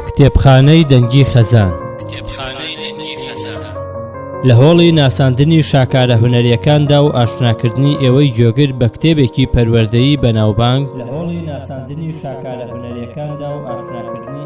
کتێبخانەی دەنگی خەزان لە هۆڵی ناساندنی شاکارە هوەریەکاندا و ئاشناکردنی ئێوەی گوێگر بە کتێبێکی پەروەردەیی بەناوبانگ لە هۆڵی ناساندنی شاکارە هوەریەکاندا و ئاشناکردنی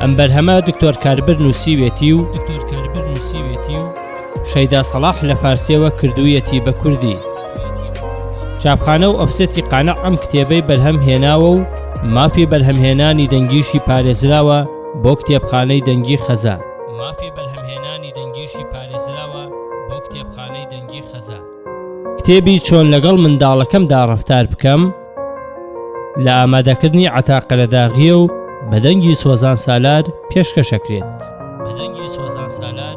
ئەم بەرهەمە دکتۆر کاربەر نووسیوێتی و دکتۆر کاربەر نووسیوێتی و شەیدا سەڵاح لە فارسیەوە کردوویەتی بە کوردی چاپخانە و ئەفسەتی قانە ئەم کتێبەی بەرهەم هێناوە و مافی بەرهەمهێنانی دەنگیشی پارێزراوە بۆ کتێبخانەی دەنگی خەزە مافی بەرهەمهێنانی دەنگیشی پارێزراوە بۆ کتێبخانەی دەنگی خەزە کتێبی چۆن لەگەڵ منداڵەکەمدا ڕەفتار بکەم لە ئامادەکردنی عتا قەرەداغیە و بەدەنگی سۆزان سالار پێشکەشەکرێت بەدەنگی سۆزان سالار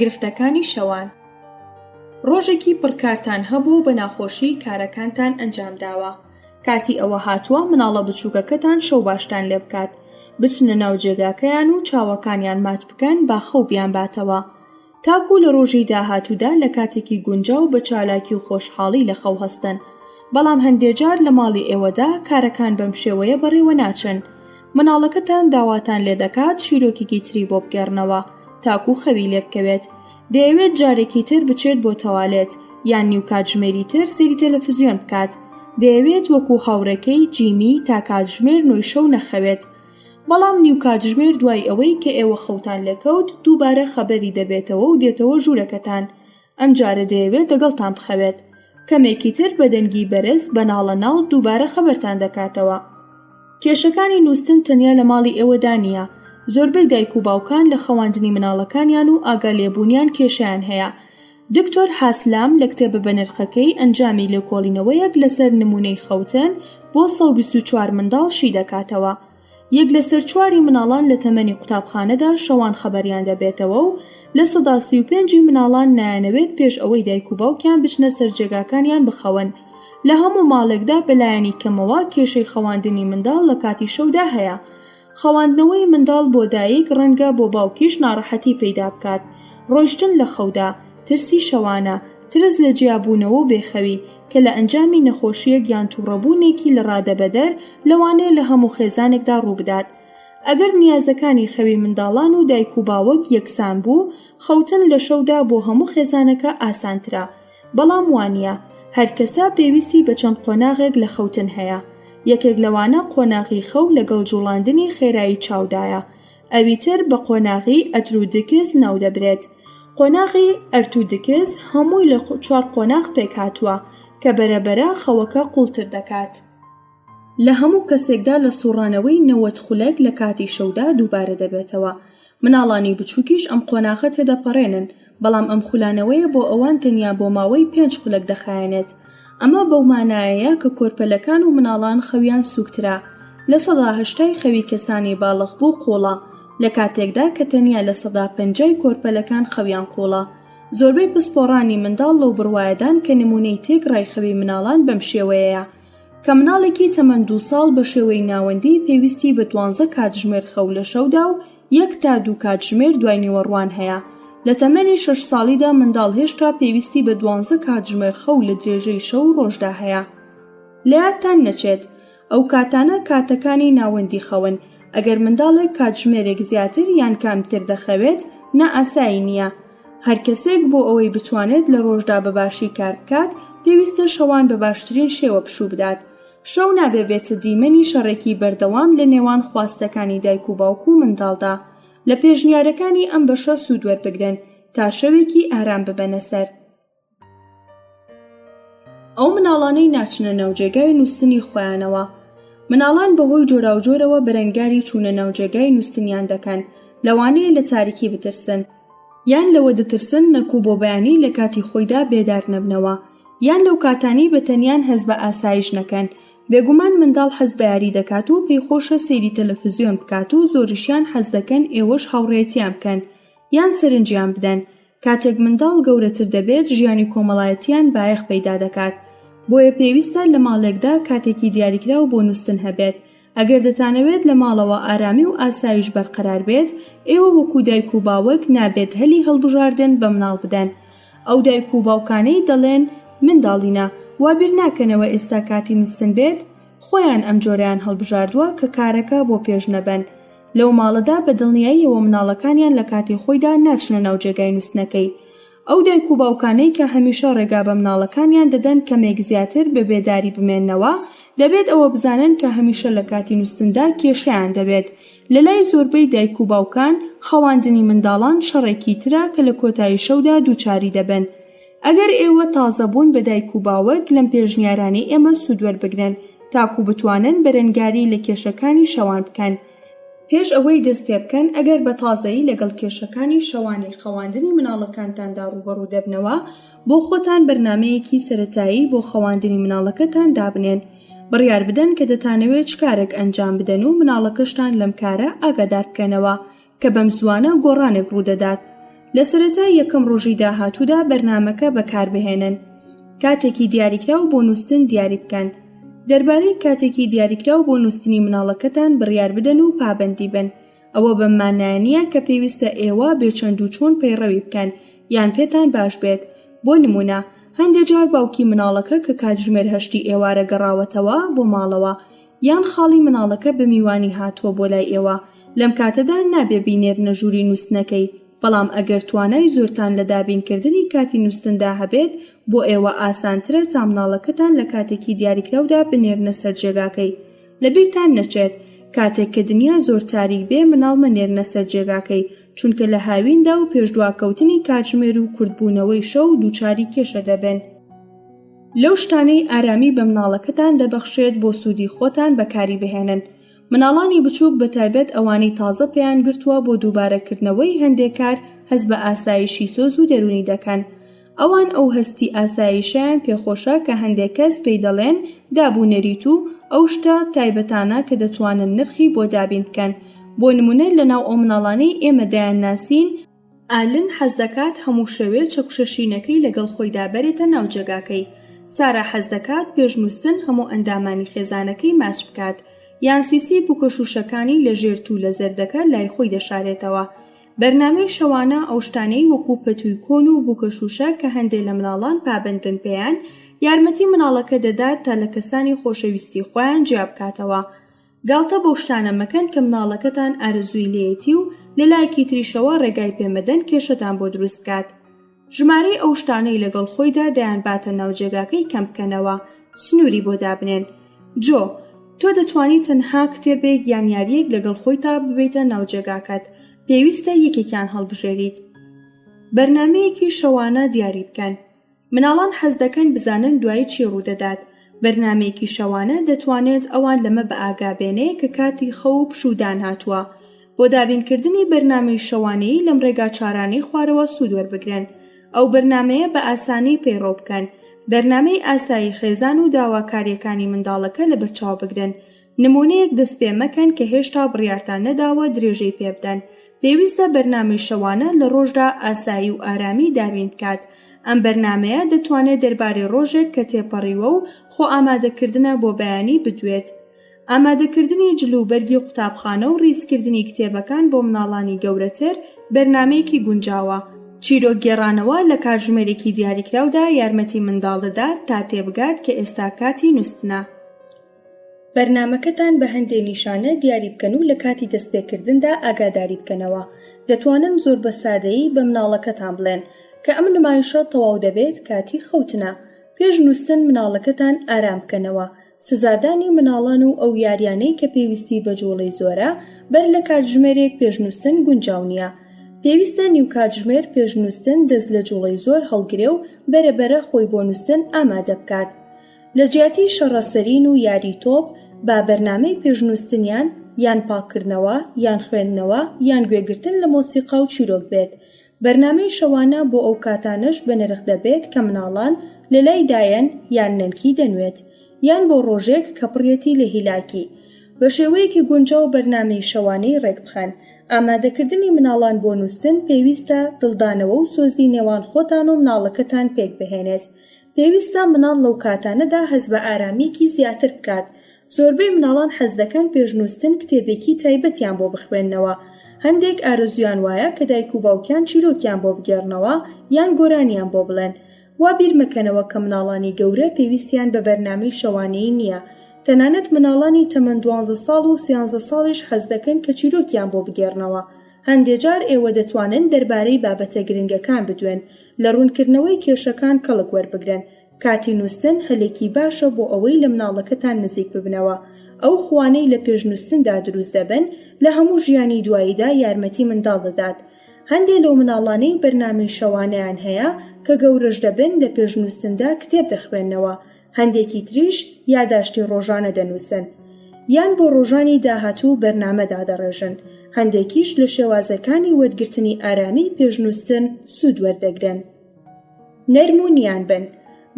گرفتەکانی شەوان ڕۆژێکی پڕکارتان هەبوو و بە ناخۆشی کارەکانتان ئەنجام داوە کاتی ئەوە هاتووە مناڵە بچووکەکەتان شەو باشتان لێ بکات بچنە ناو جێگاکەیان و چاوەکانیان مات بکەن با خەو بیان باتەوە تاکو لە ڕۆژی داهاتوودا لە کاتێکی گونجا و بە چالاکی و خۆشحاڵی لە خەو هەستن بەڵام هەندێجار لە ماڵی ئێوەدا کارەکان بەم شێوەیە بەڕێوە ناچن مناڵەکەتان داواتان لێ دەکات چیرۆکێکی تری بۆ بگێڕنەوە تاکو خەوی لێ بکەوێت دەیەوێت جارێکی تر بچێت بۆ تەوالێت یان نیو کاتژمێری تر سەیری تەلەفزیۆن بکات دەیەوێت وەکو هاوڕێکەی جیمی تا کاتژمێر نۆی شەو نەخەوێت بەڵام نیو کاتژمێر دوای ئەوەی کە ئێوە خەوتان لێکەوت دووبارە خەبەری دەبێتەوە و دێتەوە ژوورەکەتان ئەم جارە دەیەوێت دەگەڵتان بخەوێت کەمێکی تر بە دەنگی بەرز بە ناڵە ناڵ دووبارە خەبەرتان دەکاتەوە کێشەکانی نووستن تەنیا لە ماڵی ئێوەدا نییە زۆربەی دایک و باوکان لە خەواندنی مناڵەکانیان و ئاگا لێبوونیان کێشیان هەیە دکتۆر حاسلام لە کتێبە بەنرخەکەی ئەنجامی لێکۆڵینەوەیەک لەسەر نمونەی خەوتن بۆ 124 منداڵ شی دەکاتەوە یەک لەسەر چواری مناڵان لە تەمەنی قوتابخانەدا شەوان خەبەریان دەبێتەوە و لە سەدا سی و پێنجی مناڵان نایانەوێت پێش ئەوەی دایک و باوکیان بچنە سەر جێگاکانیان بخەون لە هەموو ماڵێکدا بەلایەنی کەمەوە کێشەی خەواندنی منداڵ لە کاتی شەودا هەیە خەواندنەوەی منداڵ بۆ دایک ڕەنگە بۆ باوکیش ناڕەحەتی پەیدا بکات ڕۆیشتن لە خەودا ترسی شەوانە ترس لە جیابوونەوە و بێخەوی کە لە ئەنجامی نەخۆشیەک یان توڕەبوونێکی لە ڕادەبەدەر لەوانەیە لە هەموو خێزانێکدا ڕووبدات ئەگەر نیازەکانی خەوی منداڵان و دایک و باوەک یەکسان بوو خەوتن لە شەودا بۆ هەموو خێزانەکە ئاسانترە بەڵام وانە هەرکەسە پێویستی بە چەند قۆناغێک لە خەوتن هەیە یەکێک لەوانە قۆناغی خەو لەگەڵ جوڵاندنی خێرایی چاودایە ئەویتر بە قۆناغی ئەترودکس ناودەبرێت قۆناغی ئەرتودکس هەمووی لە چوار قۆناغ پێکهاتووە کە بەرەبەرە خەوەکە قوڵتر دەکات لە هەموو کەسێکدا لە سوڕانەوەی نەوەد خولەک لە کاتی شەودا دووبارە دەبێتەوە مناڵانی بچوکیش ئەم قۆناغە تێدەپەڕێنن بەڵام ئەم خولانەوەیە بۆ ئەوان تەنیا بۆ ماوەی پێنج خولەک دەخایەنێت، ئەمە بەو مانایەیە کە کۆرپەلەکان و مناڵان خەویان سووکترە لە سەدا هەشتای خەوی کەسانی باڵخبوو قوڵە، لە کاتێکدا کە تەنیا لە سەدا پەنجای کۆرپەلەکان خەویان قوڵە، زۆربەی پسپۆڕانی منداڵ لەو بڕوایەدان کە نموونەی تێکڕای خەوی مناڵان بەم شێوەیەیە. کە مناڵێکی تەمەن دوو ساڵ بە شێوەی ناوەندی پێویستی بە دوانزە کاتژمێر خەو لە شەودا و یەک تا دوو کاتژمێر دوای نیوەڕوان هەیە لە تەمەنی شش ساڵیدا منداڵ هێشتا پێویستی بە دوانزە کاتژمێر خەو لە درێژەی شەو ڕۆژدا هەیە لە یادتان نەچێت ئەو کاتانە کاتەکانی ناوەندی خەون ئەگەر منداڵێک کاتژمێرێک زیاتر یان کامتر دەخەوێت نائاسایی نییە هەر کەسێک بۆ ئەوەی بتوانێت لە ڕۆژدا بە باشی کار بکات پێویستە شەوان بە باشترین شێوە پشوو بدات شەو نابێ بێتە دیمەنی شەڕێکی بەردەوام لە نێوان خواستەکانی دایک و باوک و منداڵدا لە پێشنیارەکانی ئەم بەشە سوود وەربگرن تا شەوێکی ئارام ببەنە سەر ئەو مناڵانەی ناچنە ناوجێگای نووسنی خۆیانەوە مناڵان بەهۆی جۆراوجۆرەوە بەرەنگاری چوونە ناوجێگای نووسنیان دەکەن لەوانەیە لە تاریکی بترسن یان لەوە دەترسن نەکو بۆ بەیانی لە کاتی خۆیدا بێدار نەبنەوە یان لەو کاتانی بە تەنیان هەز بە ئاسایش نەکەن بێگومان منداڵ حەز بە یاری دەکات و پێی خۆشە سەیری تەلەفزیۆن بکات و زۆریشیان حەز دەکەن ئێوەش هاوڕێتیان بکەن یان سەرنجیان بدەن کاتێک منداڵ گەورەتر دەبێت ژیانی کۆمەڵایەتیان بایەخ پەیدا دەکات بۆیە پێویستە لە ماڵێکدا کاتێکی دیاریکراو بۆ نووستن هەبێت ئەگەر دەتانەوێت لە ماڵەوە ئارامی و ئاسایش بەرقەرار بێت ئێوە وەکو دایک و باوک نابێت هەلی هەڵبژاردن بە مناڵ بدەن ئەو دایک و باوکانەی دەڵێن منداڵینە وابیرناکەنەوە ئێستا کاتی نووستن بێت خۆیان ئەم جۆرەیان هەڵبژاردووە کە کارەکە بۆ پێش نەبەن لەو ماڵەدا، بە دڵنیاییەوە مناڵەکانیان لە کاتی خۆیدا ناچنە ناو جێگای نوستنەکەی. ئەو دایک و باوکانەی کە هەمیشە ڕێگا بە مناڵەکانیان دەدەن کەمێک زیاتر بە بێداری بمێننەوە، دەبێت ئەوە بزانن کە هەمیشە لە کاتی نوستندا کێشەیان دەبێت. لە لای زۆربەی دایک و باوکان، خەواندنی منداڵان شەڕێکی ترە کە لە کۆتایی شەودا دووچاری دەبن. ئەگەر ئێوە تازە بوون بە دایک و باوک لەم پێشنیارانەی ئێمە سوود وەربگرن تاکو بتوانن بەرەنگاری لە کێشەکانی شەوان بکەن. پێش ئەوەی دەست پێ بکەن، ئەگەر بە تازەیی لەگەڵ کێشەکانی شەوانی خەواندنی منداڵەکانتاندا ڕووبەڕوو دەبنەوە، بۆ خۆتان بەرنامەیەکی سەرەتایی بۆ خەواندنی منداڵەکەتان دابنێن. بڕیار بدەن کە دەتانەوێت چ کارێک ئەنجام بدەن و منداڵەکەشتان لەم کارە ئاگادار بکەنەوە. کە بەمزووانە گۆڕانێک ڕوودەدات لە سەرەتای یەکەم ڕۆژی داهاتوودا بەرنامەکە بەکاربهێنن کاتێکی دیاریکراو بۆ نووستن دیاری بکەن دەربارەی کاتێکی دیاریکراو بۆ نووستنی مناڵەکەتان بڕیار بدەن و پابەندی بن ئەوە بەم مانایەنە کە پێویستە ئێوە بێچەند و چۆن پەیڕەوی بکەن یان پێتان باش بێت بۆ نمونە هەندێ جار باوکی مناڵەکە کە کاتژمێر هەشتی ئێوارە گەڕاوەتەوە بۆ ماڵەوە یان خاڵی مناڵەکە بە میوانی هاتووە بۆ لای ئێوە لەم کاتەدا نابێ بینێرنە ژووری نووستنەکەی بەڵام ئەگەر توانای زۆرتان لە دابینکردنی کاتی نووستندا هەبێت بۆ ئێوە ئاسانترە تا مناڵەکەتان لە کاتێکی دیاریکراودا بنێرنە سەر جێگاکەی لە بیرتان نەچێت کاتێک کە دنیا زۆر تاریک بێ مناڵ مەنێرنە سەر جێگاکەی چونکە لە هاویندا و پێشدواکەوتنی کاتژمێر و کورتبوونەوەی شەو دووچاری کێشە دەبن. لەو شتانەی ئارامی بە مناڵەکەتان دەبەخشێت بۆ سوودی خۆتان بەکاری بهێنن مناڵانی بچووک بە تایبەت ئەوانەی تازە پێیان گرتووە بۆ دووبارەکردنەوەی هەندێک کار هەست بە ئاسایشی سۆز و دەرونی دەکەن ئەوان ئەو هەستی ئاسایشیان پێخۆشە کە هەندێک کەس پێی دەڵێن دابونەریت و ئەو شتە تایبەتانە کە دەتوانن نرخی بۆ دابین بکەن بۆ نمونە لە ناو ئەو مناڵانەی ئێمە دەیان ناسین ئالن حەز دەکات هەموو شەوێ چەکوشە شینەکەی لەگەڵ خۆیدا بەرێتە ناو جێگاکەی. سارا حەز دەکات پێش نووستن هەموو ئەندامانی خێزانەکەی ماچ بکات، یان سیسی بووکەش و شەکانی لە ژێر توولە زەردەکە لای خۆی دەشارێتەوە. بەرنامەی شەوانە ئەو شتانەی وەکوو پەتووی کۆن و بووکەشووشە کە هەندێ لە مناڵان پابەندن پێیان، یارمەتی مناڵەکە دەدات تا لە کەسانی خۆشەویستی خۆیان جیا بکاتەوە. گاڵتە بەو شتانە مەکەن کە مناڵەکەتان ئارەزووی لێیەتی و لە لایەکی تریشەوە ڕێگای پێ مەدەن کێشەتان بۆ دروست بکات ژمارەی ئەو شتانەی لەگەڵ خۆیدا دەیان باتە ناو جێگاکەی کەم بکەنەوە سنووری بۆ دابنێن جۆ تۆ دەتوانی تەنها کتێبێک یان یاریەک لەگەڵ خۆی تا ببیتە ناوجێگاکەت پێویستە یەکێکیان هەڵبژێریت بەرنمەیەکی شەوانە دیاری بکەن مناڵان حەز دەکەن بزانن دوایی چی ڕوودەدات بەرنمەیەکی شەوانە دەتوانێت ئەوان لەمە بە ئاگابێنێ کە کاتی خە و پشودان هاتووە بۆ دابینکردنی بەرنمەی شەوانەیی لەم ڕێگا چارانەی خوارەوە سوود وەربگرن ئەو بەرنمەیە بە ئاسانی پەیڕەو بکەن بەرنمەی ئاسایی خێزان و داواکاریەکانی منداڵەکە لە بەرچاو بگرن نموونەیەک دەست پێ مەکەن کە هێشتا بڕیارتان نەداوە درێژەی پێ بدەن پێویستە بەرنامەی شەوانە لە ڕۆژدا ئاسایی و ئارامی دابین بکات ئەم بەرنمەیە دەتوانێت دەربارەی ڕۆژێک کە تێپەڕیوە و خۆ ئامادەکردنە بۆ بەیانی بدوێت ئامادەکردنی جل و بەرگی قوتابخانە و ڕیزکردنی کتێبەکان بۆ مناڵانی گەورەتر بەرنمەیەکی گونجاوە چیرۆک گێڕانەوە لە کاتژمێرێکی دیاریکراودا یارمەتی منداڵ دەدات تا تێبگات کە ئێستا کاتی نوستنە. بەرنامەکەتان بە هەندێ نیشانە دیاری بکەن و لە کاتی دەستپێکردندا ئاگاداری بکەنەوە دەتوانن زۆر بە سادەیی بە مناڵەکەتان بڵێن کە ئەم نمایشە تەواو دەبێت کاتی خەوتنە پێش نووستن مناڵەکەتان ئارام بکەنەوە سزادانی مناڵان و ئەو یاریانەی کە پێویستی بە جوڵەی زۆرە بەر لە کاتژمێرێک پێش نووستن گونجاو نییە پێویستە نیو کاتژمێر پێش نووستن دەست لە جوڵەی زۆر هەڵگرێ و بەرەبەرە خۆی بۆ نووستن ئامادە بکات لە جیاتی شەڕە سەرین و یاری تۆپ با بەرنامەی پێشنووستنیان یان پاککردنەوە یان خوێندنەوە یان گوێگرتن لە مۆسیقا و چیرۆک بێت بەرنامەی شەوانە بۆ ئەو کاتانەش بەنرخ دەبێت کە مناڵان لە لای دایەن یان نەنکی دەنوێت یان بۆ ڕۆژێک کە پڕیەتی لە هیلاکی بە شێوەیەکی گونجاو بەرنامەی شەوانەی ڕێکبخەن ئامادەکردنی مناڵان بۆ نووستن پێویستە دڵدانەوە و سۆزی نێوان خۆتان و مناڵەکەتان پێکبهێنێت پێویستە مناڵ لەو کاتانەدا هەست بە ئارامییەکی زیاتر بکات. زۆربەی مناڵان حەز دەکەن پێش نووستن کتێبێکی تایبەتیان بۆ بخوێننەوە. هەندێک ئارەزوویان وایە کە دایک و باوکیان چیرۆکیان بۆ بگێڕنەوە یان گۆرانیان بۆ بڵێن. وا بیر مەکەنەوە کە مناڵانی گەورە پێویستیان بە بەرنامەی شەوانەیی نییە. تەنانەت مناڵانی تەمەن دوانزە ساڵ و سیانزە ساڵیش حەز دەکەن کە چیرۆکیان بۆ بگێڕنەوە. هەندێ جار ئێوە دەتوانن دەربارەی بابەتە گرنگەکان بدوێن، لە ڕوونکردنەوەی کێشەکان کەڵک وەربگرن. کاتی نووستن هەلێکی باشە بۆ ئەوەی لە مناڵەکەتان نزیک ببنەوە. ئەو خووانەی لە پێش نووستندا دروست دەبن، لە هەموو ژیانی دواییدا یارمەتی منداڵ دەدات. هەندێ لەو مناڵانەی بەرنامەی شەوانەیان هەیە، کە گەورەش دەبن لە پێش نووستندا کتێب دەخوێننەوە، هەندێکی تریش یاداشتی ڕۆژانە دەنووسن یان بۆ ڕۆژانی داهاتوو بەرنامە دادەڕێژن هەندێکیش لە شێوازەکانی وەرگرتنی ئارامی پێشنووسن سوود وەردەگرن نەرم و نیان بن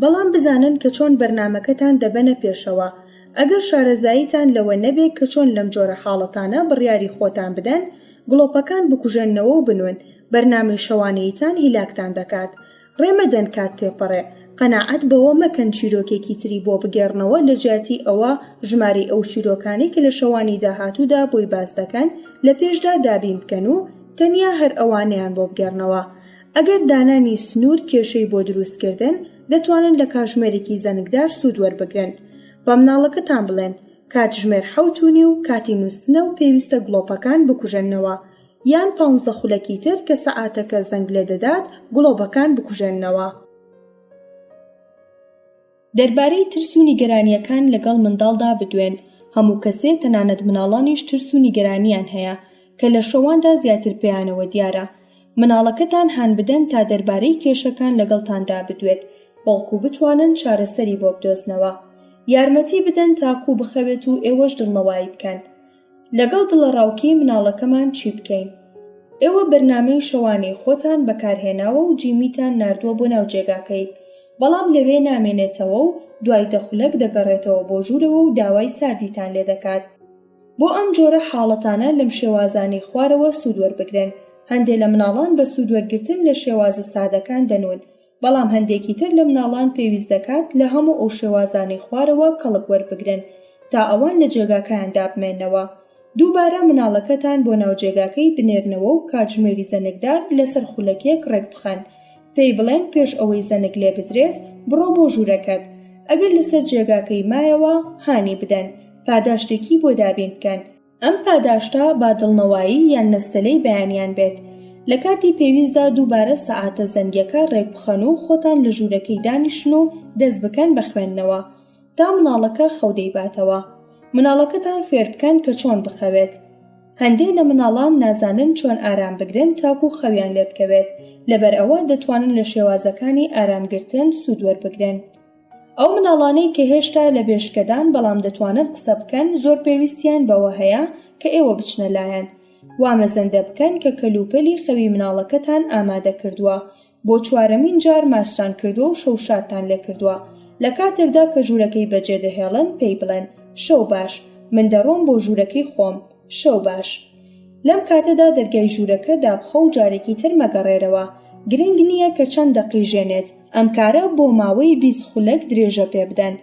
بەڵام بزانن کە چۆن بەرنمەکەتان دەبەنە پێشەوە ئەگەر شارەزاییتان لەوە نەبێت کە چۆن لەم جۆرە حاڵەتانە بڕیاری خۆتان بدەن گڵۆپەکان بکوژێنەوە و بنوون بەرنامەی شەوانەیتان هیلاکتان دەکات ڕێ مەدەن کات تێپەڕێ. قەناعەت بەوە مەکەن چیرۆکێکی تری بۆ بگێڕنەوە لە جیاتی ئەوە ژمارەی ئەو چیرۆکانەی کە لە شەوانی داهاتوودا بۆی باس دەکەن لە پێشدا دابین بکەن و تەنیا هەر ئەوانەیان بۆ بگێڕنەوە. ئەگەر دانانی سنوور کێشەی بۆ دروست کردن، دەتوانن لە کاژمێرێکی زەنگدار سوود وەربگرن. با مناڵەکەتان بڵێن، کاتژمێر حەوت و نیو کاتی نووستنە و پێویستە گڵۆپەکان بکوژێننەوە. یان پانزە خولەکی تر کە سەعاتەکە زەنگ لێ دەدات گڵۆبەکان بکوژێننەوە. دەربارەی ترس و نیگەرانییەکان لەگەڵ منداڵدا بدوێن، هەموو کەسێ تەنانەت مناڵانیش ترس و نیگەرانییان هەیە کە لە شەواندا زیاتر پێیانەوە دیارە. مناڵەکەتان هان بدەن تا دەربارەی کێشەکان لەگەڵتاندا بدوێت بەڵکو بتوانن چارەسەری بۆ بدۆزنەوە. یارمەتی بدەن تاکو بخەوێت و ئێوەش دڵنەوایی بکەن. لەگەڵ دڵەڕاوکێی مناڵەکەمان چی بکەین؟ ئێوە بەرنامەی شەوانەی خۆتان بەکارهێناوە و جیمیتان ناردووە بۆ ناو جێگاکەی، بەڵام لەوێ نامێنێتەوە و دوای دە خولەک دەگەڕێتەوە بۆ ژوورەوە و داوای ساردیتان لێ دەکات. بۆ ئەم جۆرە حاڵەتانە لەم شێوازانەی خوارەوە سوود وەربگرن، هەندێ لە مناڵان بە سوود وەرگرتن لە شێوازە سادەکان دەنوون، بەڵام هەندێکی تر لە مناڵان پێویست دەکات لە هەموو ئەو شێوازانەی خوارەوە کەڵک وەربگرن تا ئەوان لە جێگاکەیان دابمێنەوە دووبارە مناڵەکەتان بۆ ناو جێگاکەی بنێرنەوە و کاتژمێری زەنگدار لەسەر خولەکێک ڕێکبخەن پێی بڵێن پێش ئەوەی زەنگ لێ بدرێت بڕۆ بۆ ژوورەکەت ئەگەر لەسەر جێگاکەی مایەوە هانی بدەن پاداشتێکی بۆ دابین بکەن ئەم پاداشتە با دڵنەوایی یان نەستەلەی بەیانیان بێت، لە کاتی پێویستدا دووبارە سەعاتە زەنگیەکە رێکبخەن و خۆتان لە ژوورەکەی دانیشن و دەست بکەن بە خوێندنەوە تا مناڵەکە خەو دەیباتەوە. مناڵەکەتان فێربکەن کە چۆن بخەوێت. هەندێ لە مناڵان نازانن چۆن ئارام بگرن تاکو خەویان لێبکەوێت، لەبەرئەوە دەتوانن لە شێوازەکانی ئارامگرتن سوود وەربگرن. ئەو مناڵانەی کە هێشتا لە بێشکەدان بەڵام دەتوانن قسە بکەن زۆر پێویستیان بەوە هەیە کە ئێوە بچنە لایان وا مەزەندە بکەن کە کەلوپەلی خەوی مناڵەکەتان ئامادە کردووە بۆ چوارەمین جار ماچتان کردووە و شەوشادتان لێکردووە لە کاتێکدا کە ژوورەکەی بەجێدەهێڵن پێی بڵێن شەو باش من دەڕۆم بۆ ژوورەکەی خۆم شەو باش. لەم کاتەدا دەرگای ژوورەکە دابخە و جارێکی تر مەگەڕێرەوە، گرنگ نییە کە چەند دەقیژێنێت، ئەم کارە بۆ ماوەی بیست خولەک درێژە پێ بدەن.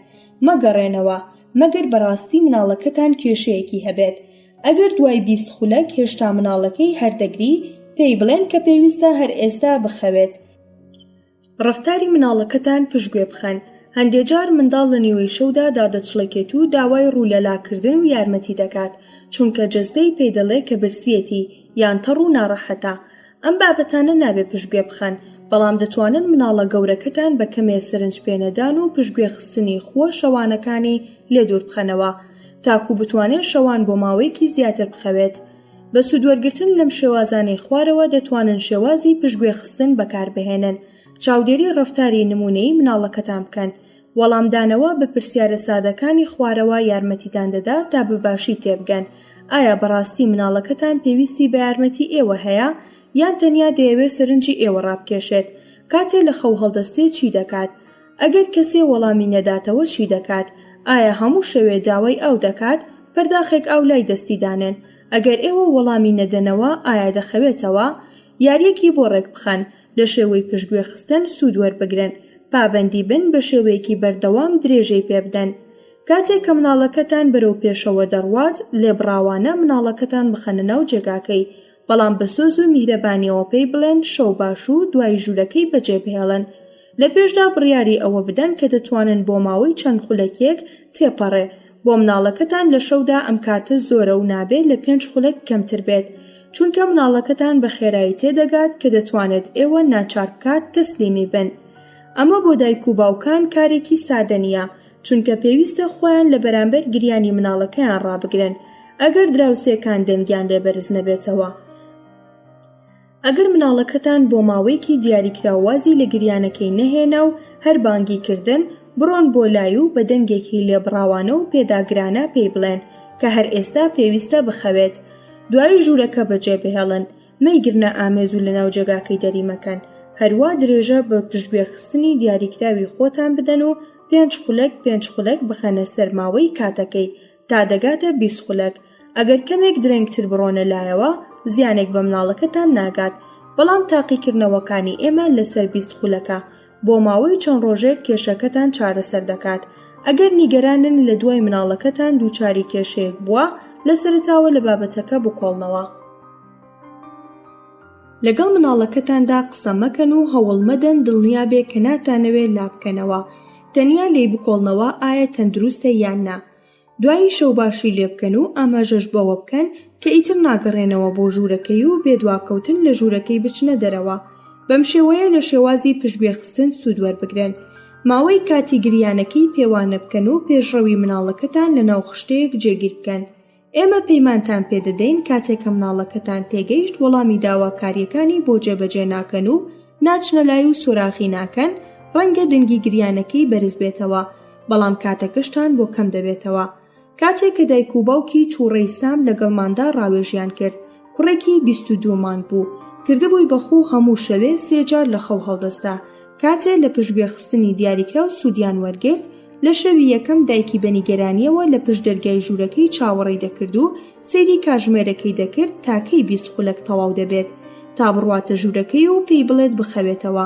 مەگەڕێنەوە، مەگەر بەڕاستی مناڵەکەتان کێشەیەکی هەبێت. ئەگەر دوای بیست خولەک هێشتا مناڵەکەی هەر دەگری، پێی بڵێن کە پێویستە هەر ئێستا بخەوێت. ڕەفتاری مناڵەکەتان پشتگوێ بخەن، هەندێک جار منداڵ لە نیوەی شەودا دادەچڵەکێت و داوای ڕوو لە لاکردن و یارمەتی دەکات چونکە جەستەی پێی دەڵێ کە برسیەتی یان تەڕ و ناڕەحەتە ئەم بابەتانە نابێ پشتگوێ بخەن بەڵام دەتوانن مناڵە گەورەکەتان بە کەمێ سەرنج پێنەدان و پشتگوێ خستنی خووە شەوانەکانی لێ دوور بخەنەوە تاکوو بتوانێ شەوان بۆ ماوەیەکی زیاتر بخەوێت بە سوودوەرگرتن لەم شێوازانەی خوارەوە دەتوانن شێوازی پشتگوێخستن بەکاربهێنن، چاودێری ڕەفتاری نموونەیی مناڵەکەتان بکەن، وەڵامدانەوە بە پرسیارە سادەکانی خوارەوە یارمەتیتان دەدات تا بە باشی تێبگەن ئایا بەڕاستی مناڵەکەتان پێویستی بە یارمەتی ئێوە هەیە یان تەنیا دەیەوێت سەرنجی ئێوە ڕابکێشێت کاتێ لە خەو هەڵدەستێت چی دەکات؟ ئەگەر کەسێ وەڵامی نەداتەوە چی دەکات؟ ئایا هەموو شەوێ داوای ئاو دەکات؟ پەرداخێک ئاو لای دەستی دانێن. ئەگەر ئێوە وەڵامی نەدەنەوە ئایا دەخەوێتەوە؟ یاریەکی بۆ ڕێکبخەن لە شێوەی پشتگوێ خستن سوود وەربگرن. پابەندی بن بە شێوەیەکی بەردەوام درێژەی پێ بدەن. کاتێک کە مناڵەکەتان بەرەو پێشەوە دەڕوات لێبڕاوانە مناڵەکەتان بخەنە ناو جێگاکەی بەڵام بە سۆز و میهرەبانیەوە پێی بڵێن شەو باش و دوایی ژوورەکەی بەجێبهێڵن. لە پێشدا بڕیاری ئەوە بدەن کە دەتوانن بۆ ماوەی چەند خولەکێک تێپەڕێ بۆ مناڵەکەتان لە شەودا ئەم کاتە زۆرە و نابێ لە پێنج خولەک کەمتر بێت چونکە مناڵەکەتان بە خێرایی تێدەگات کە دەتوانێت ئێوە ناچار بکات تەسلیمی بن ئەمە بۆ دایک و باوکان کارێکی سادە نیە چونکە پێویستە خۆیان لە بەرامبەر گریانی مناڵەکەیان ڕابگرن ئەگەر دراوسێکان دەنگیان لێ بەرز نەبێتەوە. ئەگەر مناڵەکەتان بۆ ماوەیەکی دیاریکراو وازی لە گریانەکەی نەهێنا و هەر بانگی کردن، بڕۆن بۆ لای و بە دەنگێکی لێبڕاوانە و پێداگرانە پێی بڵێن کە هەر ئێستا پێویستە بخەوێت. دوایی ژوورەکە بەجێبهێڵن، مەیگرنە ئامێز و لەناو جێگاکەی دەری مەکەن. هەروا درێژە بە پشتگوێخستنی دیاریکراوی خۆتان بدەن و پێنج خولەک پێنج خولەک بخەنە سەر ماوەی کاتەکەی، تا دەگاتە بیست خولەک، ئەگەر کەمێک درەنگتر بڕۆنە لایەوە زیانێک بە مناڵەکەتان ناگات، بەڵام تاقیکردنەوەکانی ئێمە لەسەر بیست خولەکە بۆ ماوەی چەند ڕۆژێک کێشەکەتان چارەسەر دەکات، ئەگەر نیگەرانن لە دوای مناڵەکەتان دووچاری کێشەیەک بووە لە سەرەتاوە لە بابەتەکە بکۆڵنەوە. لەگەڵ مناڵەکەتاندا قسە مەکەن و هەوڵمەدەن دڵنیابێ کە ناتانەوێ لابکەنەوە، تەنیا لێی بکۆڵنەوە ئایا تەندروستە یان نا، دوایی شەوباشی لێ بکەن و ئاماژەش بەوە بکەن کە ئیتر ناگەڕێنەوە بۆ ژوورەکەی و بێ دواکەوتن لە ژوورەکەی بچنە دەرەوە، بەم شێوەیە لە شێوازی پشتگوێخستن سوود وەربگرن. ماوەی کاتی گریانەکەی پێوانە بکەن و پێشڕەوی منداڵەکەتان لەناو خشتەیەک جێگیر بکەن ئێمە پەیمانتان پێدەدەین کاتێک کە مناڵەکەتان تێگەیشت وەڵامی داواکاریەکانی بۆ جێبەجێ ناکەن و ناچنە لای و سۆراخی ناکەن ڕەنگە دەنگی گریانەکەی بەرز بێتەوە بەڵام کاتەکەشتان بۆ کەم دەبێتەوە کاتێک کە دایک و باوکی تووڕەی سام لەگەڵماندا ڕاوێژیان کرد کوڕێکی بیست و دوو مانگ بوو کردبووی بەخوو هەموو شەوێ سێجار لە خەو هەڵدەستا کاتێ لە پشت گوێخستنی دیاریکراو سوودیان وەرگرت، لە شەوی یەکەم دایکی بە نیگەرانییەوە لە پشت دەرگای ژوورەکەی چاوەڕێی دەکرد و سەیری کاژمێرەکەی دەکرد تا کەی بیست خولەک تەواو دەبێت تا بڕواتە ژوورەکەی و پێی بڵێت بخەوێتەوە.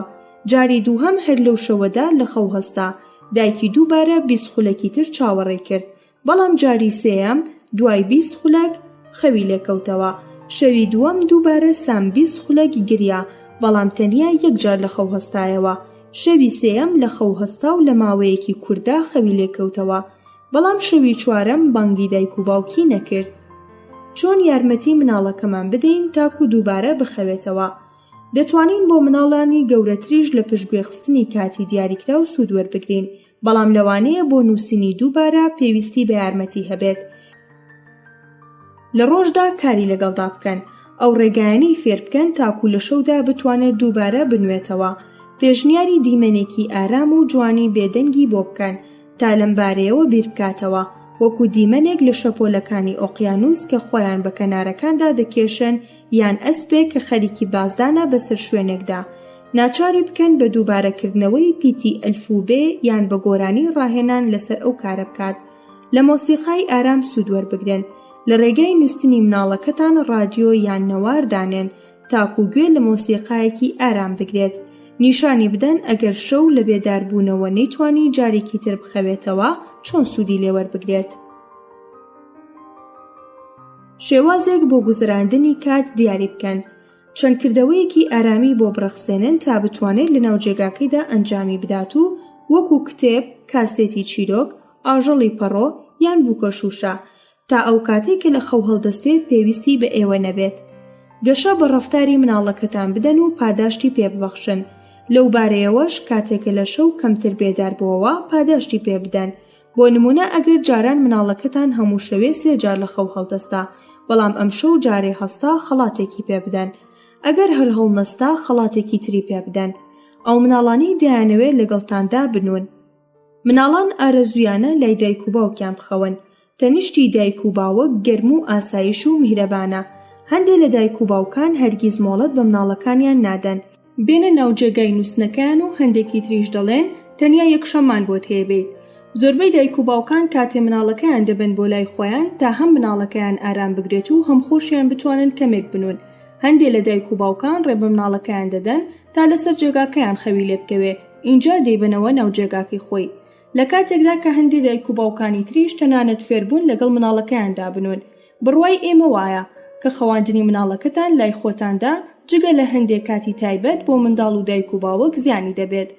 جاری دووهەم هەر لەو شەوەدا لە خەو هەستا. دایکی دووبارە بیست خولەکی تر چاوەڕێی کرد، بەڵام جاری سێیەم دوای بیست خولەک خەوی لێکەوتەوە شەوی دووەم دووبارە سام بیست خولەک گریا بەڵام تەنیا یەکجار لە خەو هەستایەوە شەوی سێەم لە خەو هەستا و لە ماوەیەکی کووردا خەوی لێکەوتەوە بەڵام شەوی چوارەم بانگی دایک و باوکی نەکرد چۆن یارمەتی مناڵەکەمان بدەین تاکو دووبارە بخەوێتەوە دەتوانین بۆ مناڵانی گەورەتریش لە پشتگوێخستنی کاتی دیاریکرا و سوود وەربگرین بەڵام لەوانەیە بۆ نووسینی دووبارە پێویستی بە یارمەتی هەبێت لە ڕۆژدا کاری لەگەڵدا بکەن ئەو ڕێگایانەی فێر بکەن تاکو لە شەودا بتوانێت دووبارە بنوێتەوە پێشنیاری دیمەنێکی ئارام و جوانی بێدەنگی بۆ بکەن تا لەم بارەیەوە بیر بکاتەوە وەکو دیمەنێک لە شەپۆلەکانی ئۆقیانوس کە خۆیان بە کەنارەکاندا دەکێشن یان ئەسپێک کە خەریکی بازدانە بەسەر شوێنێکدا، ناچاری بکەن بە دووبارەکردنەوەی پیتی ئەلف و بێ یان بە گۆرانی ڕاهێنان لەسەر ئەو کارە بکات. لە مۆسیقای ئارام سوود وەربگرن. لە ڕێگای نووستنی مناڵەکەتان ڕادیۆ یان نەوار دانێن تاکوو گوێ لە مۆسیقایەکی ئارام بگرێت. نیشانی بدەن ئەگەر شەو لە بێداربوونەوە نەیتوانی جارێکی تر بخەوێتەوە چۆن سوودی لێ وەربگرێت. شێوازێک بۆ گوزەراندنی کات دیاری بکەن چەند کردەوەیەکی ئارامی بۆ بڕەخسێنن تا بتوانێت لەناو جێگاکەیدا ئەنجامی بدات و وەکو کتێب، کاسێتی چیرۆک، ئاژەڵی پەڕۆ یان بووکە شووشە تا ئەو کاتەی کە لە خەو هەڵدەستێت پێویستی بە ئێوە نەبێت. گەشە بە ڕەفتاری مناڵەکەتان بدەن و پاداشتی پێ ببەخشن. لەو بارەیەوەش کاتێکە لە شەو کەمتر بێدار بووەوە پاداشتی پێ بدەن بۆ نمونە ئەگەر جاران مناڵەکەتان هەموو شەوێ سێ جار لە خەو هەڵدەستا بەڵام ئەم شەو جارێ هەستا خەڵاتێکی پێ بدەن ئەگەر هەر هەڵنەستا خەڵاتێکی تری پێ بدەن ئەو مناڵانەی دایانەوێت لەگەڵتاندا بنون مناڵان ئارەزویانە لای دایک و باوکیان بخەون تەنیشتی دایک و باوک گەرم و ئاسایش و میهرەبانە هەندێ لە دایک و باوکان هەرگیز مۆڵەت بە مناڵەکانیان نادەن بێنە ناو جێگای نووسنەکەیان و هەندێکی تریش دەڵێن تەنیا یەکشەممان بۆت هەیە بێیت زۆربەی دایک و باوکان کاتێ مناڵەکەیان دەبن بۆ لای خۆیان تا هەم مناڵەکەیان ئارام بگرێت و هەم خۆشیان بتوانن کەمێک بنون هەندێ لە دایک و باوکان ڕێ بە مناڵەکەیان دەدەن تا لەسەر جێگاکەیان خەوی لێ بکەوێ ئینجا دەیبەنەوە ناو جێگاکەی خۆی لە کاتێکدا کە هەندێ دایک و باوکانی تریش تەنانەت فێربوون لەگەڵ مناڵەکەیاندا بنون بڕوای ئێمە وایە کە خەواندنی مناڵەکەتان لای خۆتاندا جگە لە هەندێک کاتی تایبەت بۆ منداڵ و دایک و باوک زیانی دەبێت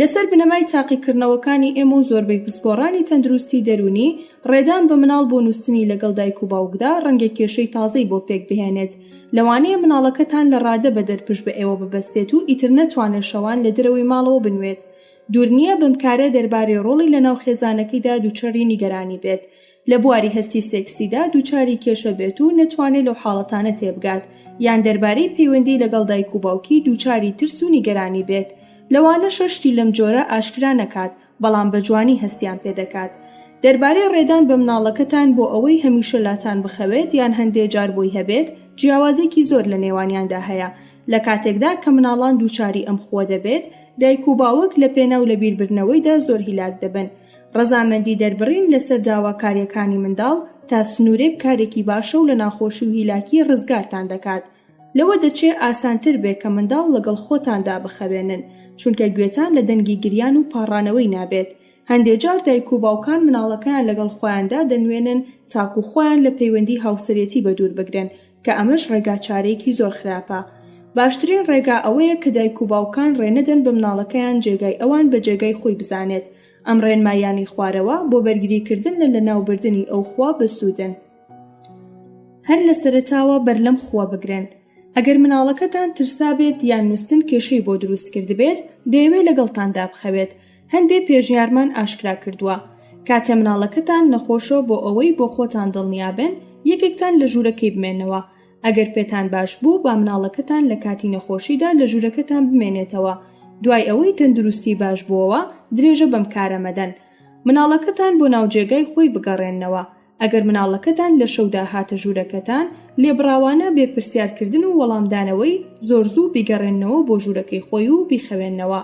لەسەر بنەمای تاقیکردنەوەکانی ئێمە و زۆربەی پسپۆڕانی تەندروستی دەروونی ڕێدان بە مناڵ بۆ نووستنی لەگەڵ دایک و باوکدا ڕەنگە کێشەی تازەی بۆ پێک بهێنێت لەوانەیە مناڵەکەتان لە ڕادە بەدەر پشت بە ئێوە ببەستێت و ئیتر نەتوانێت شەوان لە درەوەی ماڵەوە بنوێت دوور نییە بەمکارە دەربارەی ڕۆڵی لەناو خێزانەکەیدا دووچەری نیگەرانی بێت لە بواری هەستی سێکسیدا دووچاری کێشە بێت و نەتوانێت لەو حاڵەتانە تێبگات، یان دەربارەی پەیوەندی لەگەڵ دایک و باوکی دووچاری ترس و نیگەرانی بێت، لەوانەشە شتی لەم جۆرە ئاشکرا نەکات، بەڵام بە جوانی هەستیان پێ دەکات. دەربارەی ڕێدان بە مناڵەکەتان بۆ ئەوەی هەمیشە لاتان بخەوێت یان هەندێ جار بۆی هەبێت، جیاوازێکی زۆر لە نێوانیاندا هەیە، لە کاتێکدا کە مناڵان دووچاری ئەم خووە دەبێت، دایک و باوک لە پێناو لەبیربردنەوەیدا زۆر هیلاک دەبن، ڕەزامەندی دەربڕین لەسەر داواکاریەکانی منداڵ تا سنورێک کارێکی باشە و لە ناخۆشی و هیلاکی ڕزگارتان دەکات لەوە دەچێ ئاسانتر بێ کە منداڵ لەگەڵ خۆتاندا بخەوێنن چونکە گوێتان لە دەنگی گریان و پاڕانەوەی نابێت هەندێ جار دایک و باوکان مناڵەکەیان لەگەڵ خۆیاندا دەنوێنن تاکو خۆیان لە پەیوەندی هاوسەرێتی بەدوور بگرن کە ئەمەش ڕێگا چارەیەکی زۆر خراپە باشترین ڕێگا ئەوەیە کە دایک و باوکان ڕێنەدەن بە مناڵەکەیان جێگای ئەوان بە جێگای خۆی بزانێت ئەم ڕێنمایانی خوارەوە بۆ بەرگریکردن لە لەناوبردنی ئەو خوا بەسوودن هەر لە سەرتاوە بەر لەم خووە بگرن ئەگەر مناڵەکەتان ترسابێت یان نووسن کێشەی بۆ دروست کردبێت دەیەوێت لەگەڵتان دابخەوێت هەندێ پێژیارمان ئاشکرا کردووە کاتێ مناڵەکەتان نەخۆشەوە بۆ ئەوەی بۆ خۆتان دڵنیابن یەکێکتان لە ژوورەکەی بمێنەوە ئەگەر پێتان باش بوو با مناڵەکەتان لە کاتی نەخۆشیدا لە ژوورەکەتان بمێنێتەوە دوای ئەوەی تەندروستی باش بووەوە درێژە بەم کارە مەدەن مناڵەکەتان بۆ ناو جێگای خۆی بگەڕێننەوە ئەگەر مناڵەکەتان لە شەودا هاتە ژوورەکەتان، لێبڕاوانە بێ پرسیارکردن و وەڵامدانەوەی، زۆر زوو بیگەڕێننەوە بۆ ژوورەکەی خۆی و بیخەوێننەوە.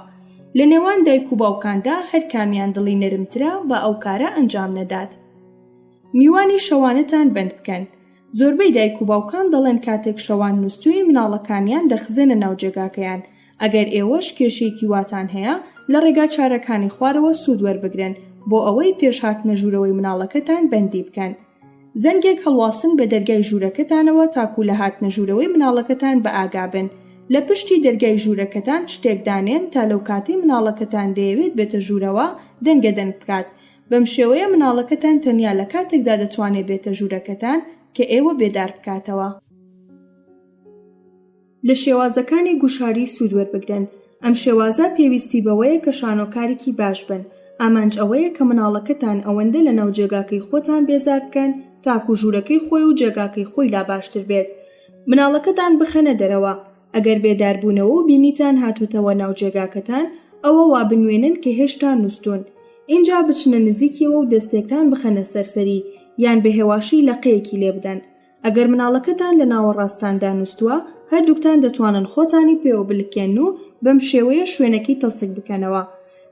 لە نێوان دایک و باوکاندا هەر کامیان دڵی نەرمترە با ئەو کارە ئەنجام نەدات. میوانی شەوانەتان بەند بکەن. زۆربەی دایک و باوکان دەڵێن کاتێک شەوان نوستووین مناڵەکانیان دەخزێنە ناو جێگاکەیان، ئەگەر ئێوەش کێشەیەکی واتان هەیە لە ڕێگا چارەکانی خوارەوە سوود وەربگرن بۆ ئەوەی پێش هاتنە ژوورەوەی مناڵەکەتان بەندی بکەن زەنگێک هەڵواسن بە دەرگای ژوورەکەتانەوە تاکو لە هاتنە ژوورەوەی مناڵەکەتان بە ئاگابن لە پشتی دەرگای ژوورەکەتان شتێک دانێن تا لەو کاتەی مناڵەکەتان دەیەوێت بێتە ژوورەوە دەنگە دەنگ بکات بەم شێوەیە مناڵەکەتان تەنیا لە کاتێکدا دەتوانێت بێتە ژوورەکەتان کە ئێوە بێدار بکاتەوە. لە شێوازەکانی گوشاری سوود وەربگرن ئەم شێوازە پێویستی بەوەیە کە شانۆکارێکی باش بن ئامانج ئەوەیە کە مناڵەکەتان ئەوەندە لە ناو جێگاکەی خۆتان بێزار بکەن تاکو ژوورەکەی خۆی و جێگاکەی خۆی لا باشتر بێت مناڵەکەتان بخەنە دەرەوە ئەگەر بێداربوونەوە و بینیتان هاتۆتەوە ناو جێگاکەتان ئەوە وا بنوێنن کە هێشتا نووستون ئینجا بچنە نزیکیەوە و دەستێکتان بخەنە سەر سەری یان بە هێواشی لەقەیەکی لێبدەن ئەگەر مناڵەکەتان لە ناوەڕاستاندا نووستووە، هەردووکتان دەتوانن خۆتانی پێوە بلکێنن و بەم شێوەیە شوێنەکەی تەسک بکەنەوە.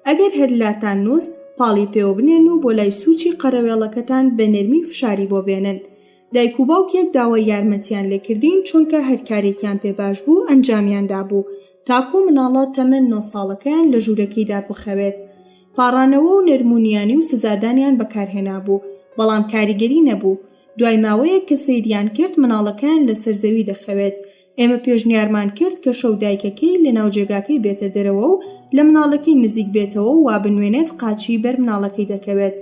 ئەگەر هەر لاتان نووست، پاڵی پێوە بنێن و بۆ لای سووچی قەرەوێڵەکەتان بە نەرمی فشاری بۆ بێنن. دایک و باوکێک داوای یارمەتییان لێ کردین، چونکە هەر کارێکیان پێ باش بوو ئەنجامیان دابوو، تاکوو مناڵە تەمەن نۆ ساڵەکەیان لە ژوورەکەیدا بخەوێت. پاڕانەوە و نەرمونیانی و سزادانیان بەکار هێنابوو، بەڵام کاریگەری نەبوو. دوای ماوەیەک کە سەیریان کرد مناڵەکەیان لەسەر زەوی دەخەوێت ئێمە پێشنیارمان کرد کە شەو دایکەکەی لە ناوجێگاکەی بێتە دەرەوە و لە مناڵەکەی نزیک بێتەوە و وابنوێنێت قاچی بەر مناڵەکەی دەکەوێت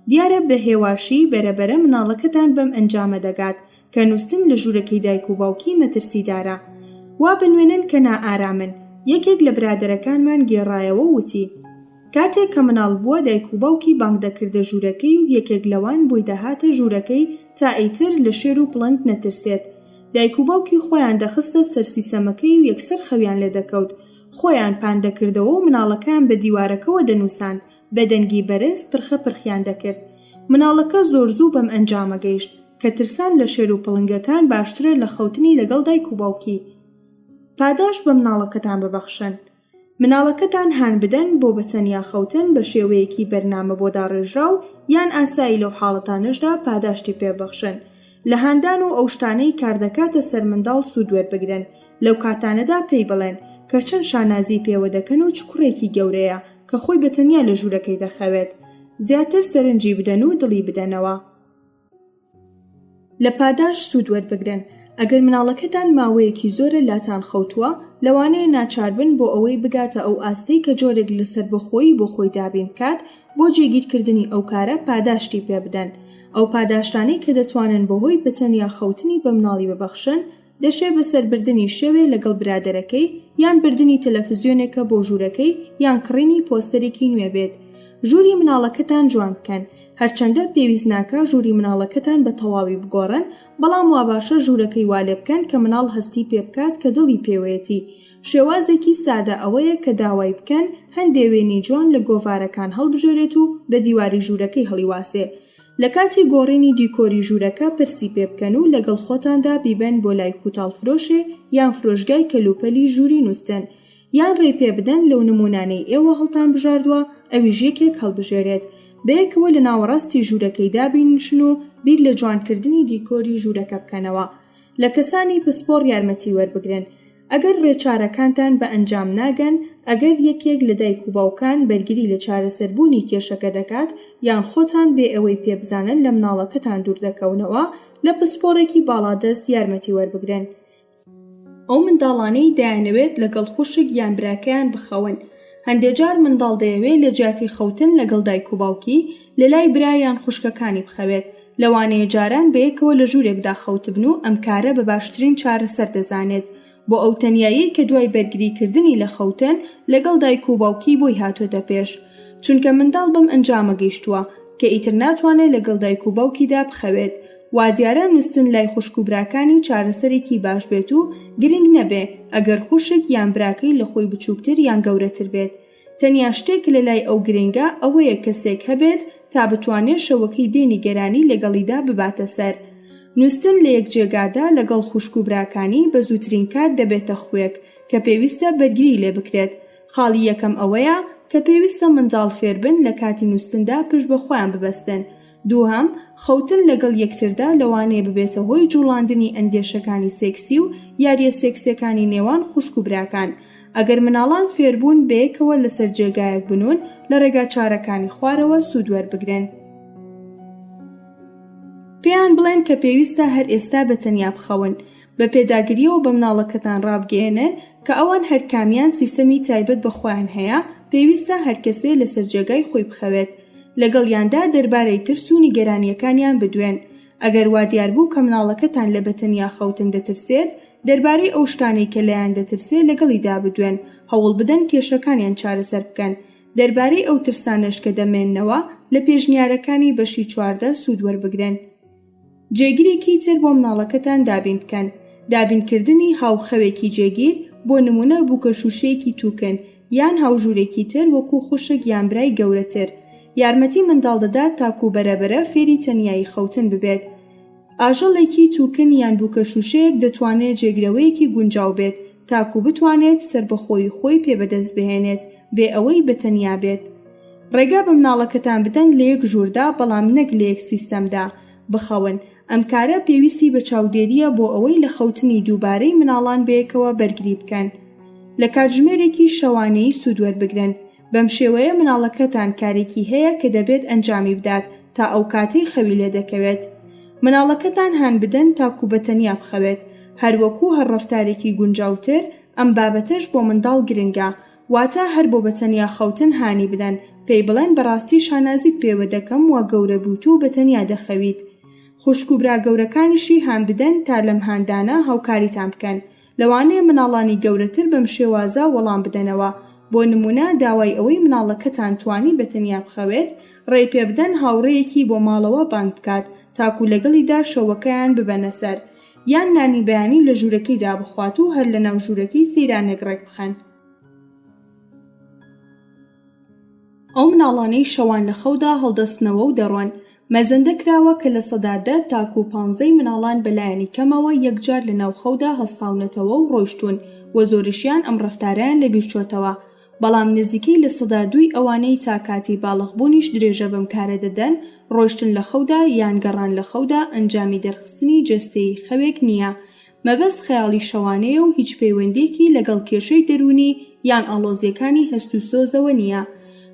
دیارە بە هێواشی بەرە بەرە مناڵەکەتان بەم ئەنجامە دەگات کە نووستن لە ژوورەکەی دایک و باوکی مەترسیدارە وابنوێنن کە نائارامن یەکێک لە برادەرەکانمان گێڕایەوە وتی کاتێک کە مناڵ بووە دایک و باوکی بانگ دەکردە ژوورەکەی و یەکێک لەوان بۆی دەهاتە ژوورەکەی تا ئیتر لە شێر و پڵنگ نەترسێت. دایک و باوکی خۆیان دەخستە سەر سیسەمەکەی و یەکسەر خەویان لێ دەکەوت. خۆیان پان دەکردەوە و مناڵەکەیان بە دیوارەکەوە دەنووساند، بە دەنگی بەرز پرخە پرخیان دەکرد. مناڵەکە زۆر زوو بەم ئەنجامە گەیشت کە ترسان لە شێر و پڵنگەکان باشترە لە خەوتنی لەگەڵ دایک و باوکی. پاداشت بە مناڵەکەتان ببەخشن. مناڵەکەتان هان بدەن بۆ بە تەنیا خەوتن بە شێوەیەکی بەرنامە بۆ داڕێژراو یان ئاسایی لەو حاڵەتانەشدا پاداشتی پێ بەخشن لە هاندان و ئەو شتانەی کاردەکاتە سەر منداڵ سوود وەربگرن لەو کاتانەدا پێی بڵێن کە چەند شانازی پێوە دەکەن و چ کوڕێکی گەورەیە کە خۆی بە تەنیا لە ژوورەکەی دەخەوێت زیاتر سەرنجی بدەن و دڵی بدەنەوە. لە پاداش سوود وەربگرن ئەگەر مناڵەکەتان ماوەیەکی زۆرە لاتان خەوتووە لەوانەیە ناچاربن بۆ ئەوەی بگاتە ئەو ئاستەی کە جۆرێک لە سەربەخۆیی بۆ خۆی دابین بکات بۆ جێگیرکردنی ئەو کارە پاداشتی پێبدەن ئەو پاداشتانەی کە دەتوانن بەهۆی بەتەنیا خەوتنی بە مناڵی ببەخشن دەشێ بە سەر بردنی شەوێ لەگەڵ برادەرەکەی یان بردنی تەلەفزیۆنێکە بۆ ژوورەکەی یان کڕینی پۆستەرێکی نوێ بێت ژووری مناڵەکەتان جوان بکەن هەرچەندە پێویست ناکا ژووری مناڵەکەتان بە تەواوی بگۆڕن بەڵام واباشە ژوورەکەی والێ بکەن کە مناڵ هەستی پێ بکات کە دڵی پێوەیەتی شێوازێکی سادە ئەوەیە کە داوای بکەن هەندێ وێنەی جوان لە گۆڤارەکان هەڵبژێرێت و بە دیواری ژوورەکەی هەڵیواسێ لە کاتی گۆڕینی دیکۆری ژوورەکە پرسی پێ بکەن و لەگەڵ خۆتاندا بیبەن بۆ لای کوتاڵفرۆشێ یان فرۆشگای کەلوپەلی ژووری نووستن یان ڕێی پێ بدەن لەو نموونانەی ئێوە هەڵتان بژاردووە ئەویش یەکێک هەڵبژێرێت بەیەکەوە لە ناوەڕاستی ژوورەکەیدا بینشن و بیر لە جوانکردنی دیکۆری ژوورەکە بکەنەوە لە کەسانی پسپۆڕ یارمەتی وەربگرن ئەگەر ڕێچارەکانتان بە ئەنجام ناگەن، ئەگەر یەکێک لە دایک و باوکان بەرگری لە چارەسەربوونی کێشەکە دەکات، یان خۆتان بێ ئەوەی پێ بزانن لە مناڵەکەتان دوور دەکەونەوە، لە پسپۆڕێکی باڵادەست یارمەتی وەربگرن. ئەو منداڵانەی دەیانەوێت لەگەڵ خوشک یان براکەیان بخەون، هەندێ جار منداڵ دەیەوێت لە جیاتی خەوتن لەگەڵ دایک و باوکی، لە لای برا یان خوشکەکانی بخەوێت، لەوانەیە جاران بەیەکەوە لە ژوورێکدا خەوتبن و ئەم کارە بە باشترین چارەسەر دەزانێت بۆ ئەو تەنیاییەی کە دوای بەرگریکردنی لە خەوتن لەگەڵ دایک و باوکی بۆی هاتۆتە پێش چونکە منداڵ بەم ئەنجامە گەیشتووە کە ئیتر ناتوانێت لەگەڵ دایک و باوکیدا بخەوێت وادیارە نووستن لای خوشک و براکانی چارەسەرێکی باش بێت و گرنگ نەبێ ئەگەر خوشک یان براکەی لە خۆی بچووکتر یان گەورەتر بێت تەنیا شتێک کە لەلای ئەو گرنگە ئەوەیە کەسێک هەبێت تا بتوانێت شەوەکەی بێ نیگەرانی لەگەڵیدا بباتە سەر. نووستن لە یەک جێگادا لەگەڵ خوشک و براکانی بە زووترین کات دەبێتە خووێک کە پێویستە بەرگری لێ بکرێت. خاڵی یەکەم ئەوەیە کە پێویستە منداڵ فێربن لە کاتی نووستندا پشت بە خۆیان ببەستن دووهەم، خەوتن لەگەڵ یەکتردا لەوانەیە ببێتە هۆی جوڵاندنی ئەندێشەکانی سێکسی و یارییە سێکسییەکانی نێوان خوشک و براکان. ئەگەر منداڵان فێربوون بەیەکەوە لەسەر جێگایەک بنوون لە ڕێگا چارەکانی خوارەوە سوود وەربگرن. پێیان بڵێن کە پێویستە هەر ئێستا بە تەنیا بخەون. بە پێداگرییەوە بە مناڵەکەتان ڕابگەیەنن کە ئەوان هەرکامیان سیستەمی تایبەت بە خۆیان هەیە، پێویستە هەرکەسێ لەسەر جێگای خۆی بخەوێت. لەگەڵیاندا دەربارەی ترس و نیگەرانییەکانیان بدوێن. ئەگەر وا دیار بوو کە مناڵەکەتان لە بەتەنیا خەوتن دەترسێت، دەربارەی ئەو شتانەی کە لێیان دەترسێ لەگەڵیدا بدوێن، هەوڵ بدەن کێشەکانیان چارەسەر بکەن. دەربارەی ئەو ترسانەش کە دەمێننەوە، لە پێشنیارەکانی بەشی چواردە سوود وەربگرن. جێگرێکی تر بۆ مناڵەکەتان دابین بکەن دابین کردنی هاو خەوێکی جێگیر بۆ نمونە بووکە شووشەیەکی توکن یان هاوژورێکی تر وەکو خوشک یان برای گەورەتر یارمەتی منداڵ دەدات تاکو بەرەبەرە فێری تەنیایی خەوتن ببێت ئاژەڵێکی توکن یان بووکە شووشەیەک دەتوانێت جێگرەوەیەکی گونجاو بێت تاکو بتوانێت سەربەخۆیی خۆی پێ بەدەست بهێنێت بێ ئەوەی بەتەنیا بێت. ڕێگا بە مناڵەکەتان بدەن لە یەک ژووردا بەڵام نەک لە یەک سیستەمدا بخەون ئەم کارە پێویستی بە چاودێریە بۆ ئەوەی لە خەوتنی دووبارەی مناڵان بەیەکەوە بەرگری بکەن لە کاتژمێرێکی شەوانەیی سوود وەربگرن بەم شێوەیە مناڵەکەتان کارێکی هەیە کە دەبێت ئەنجامی بدات تا ئەو کاتەی خەوی لێ دەکەوێت مناڵەکەتان هان بدەن تاکو بە تەنیا بخەوێت هەروەکو هەر ڕفتارێکی گونجاوتر ئەم بابەتەش بۆ منداڵ گرنگە واتا هەر بۆ بەتەنیا خەوتن هانی بدەن پێی بڵێن بەڕاستی شانازیت پێوە دەکەم وا گەورە بوویت و بەتەنیا دەخەویت خوشک و برا گەورەکانیشی هان بدەن تا لەم هاندانە هاوکاریتان بکەن لەوانەیە مناڵانی گەورەتر بەم شێوازە وەڵام بدەنەوە بۆ نمونە داوای ئەوەی مناڵەکەتان توانی بەتەنیا بخەوێت ڕێی پێبدەن هاوڕێیەکی بۆ ماڵەوە بانگ بکات تاکو لەگەڵیدا شەوەکەیان ببەنە سەر یان نانی بەیانی لە ژوورەکەیدا بخوات و هەر لەناو ژوورەکەی سەیرانێک ڕێک بخەن. ئەو مناڵانەی شەوان لە خەودا هەڵدەستنەوە و دەڕۆن، مەزەندە کراوە کە لە سەدا دە تاکوو پانزەی مناڵان بە لایەنی کەمەوە یەکجار لەناو خەودا هەستاونەتەوە و ڕۆیشتوون و زۆریشیان ئەم ڕەفتارەیان لەبیرچۆتەوە، بەڵام نزیکەی لە سەدا دووی ئەوانەی تا کاتی باڵغبوونیش درێژە بەم کارە دەدەن، ڕۆشتن لە خەودا یان گەڕان لە خەودا ئەنجامی دەرخستنی جەستەیی خەوێک نییە، مەبەست خەیاڵی شەوانەیە و هیچ پەیوەندییەکی لەگەڵ کێشەی دەروونی یان ئاڵۆزییەکانی هەست و سۆزەوە نییە،